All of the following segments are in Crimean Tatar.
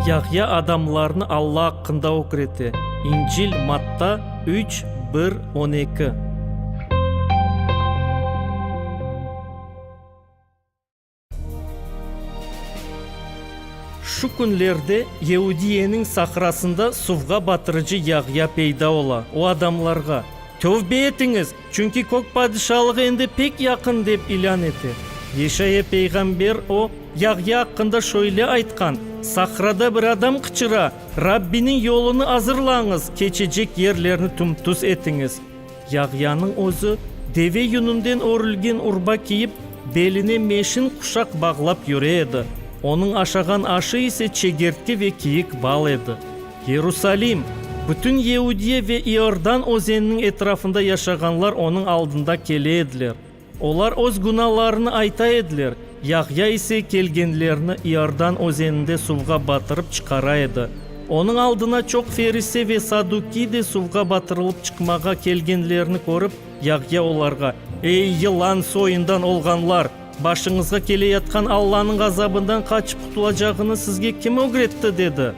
Yahya adamlarnı Alla aqqında ögrete. İncil, Matta üç, bir, on eki. Şu künlerde Yeudiyeniñ sahrasında suvğa batırıcı Yahya peyda ola. O adamlarğa, Tövbe etiñiz! Çünki kök padişalığı endi pek yaqın, dep ilân ete. Yeşaya peyğamber o, Yahya aqqında şöyle aytqan, Sahrada bir adam qıçıra, Rabbiniñ yolunı azırlañız, keçecek yerlerni tüm-tüz etiñiz. Yahyanıñ özü, deve yününden örülgen urba kiyip, beline meşin quşaq bağlap yüre edi, onıñ aşağan aşı ise çegertke ve kiyik bal edi. Yerusalim, bütün Yehudiye ve İordan özeniniñ etrafında yaşağanlar onıñ aldında kele ediler. Olar öz günahlarını ayta ediler, Yahya ise kelgenlerini İordan özeninde suvğa batırıp çıqara edi. Onıñ aldına çoq ferise ve saddukiy de suvğa batırılıp çıqmağa kelgenlerini körip, Yahya olarğa, Ey, yılan soyundan olğanlar! Başıñızğa keleyatqan Allanıñ azabından qaçıp qutulacağıñız sizge kim ögretti? dedi.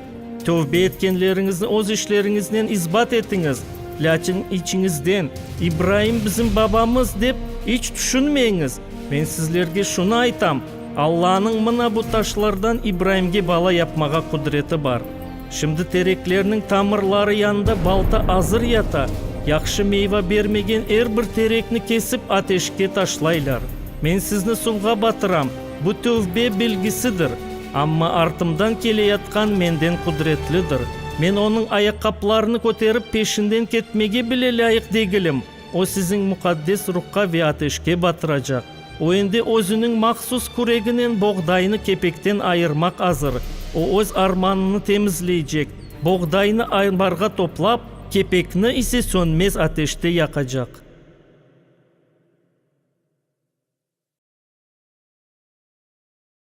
Tövbe etkenleriñizni öz işleriñiznen isbat etiñiz, lâkin içiñizden, İbraim bizim babamız, dep iç tüşünmeyiñiz. Men sizlerge şunı aytam, Allanıñ mına bu taşlardan İbraimge bala yapmağa qudreti bar. Şimdi tereklerniñ tamırları yanında balta azır yata. Yahşı meyva bermegen er bir terekni kesip ateşke taşlaylar. Men sizni suvğa batıram, bu tövbe belgisidir. Amma artımdan keleyatqan menden qudretlidir. Men onıñ ayaqqaplarını köterip peşinden ketmege bile lâyıq degilim. O siziñ muqaddes ruhqa ve ateşke batıracaq. O endi özüniñ mahsus küreginen boğdaynı kepekten ayırmaq azır. O öz armanını temizleycek, boğdaynı ambarğa toplap, kepekni ise sönmez ateşte yaqacaq.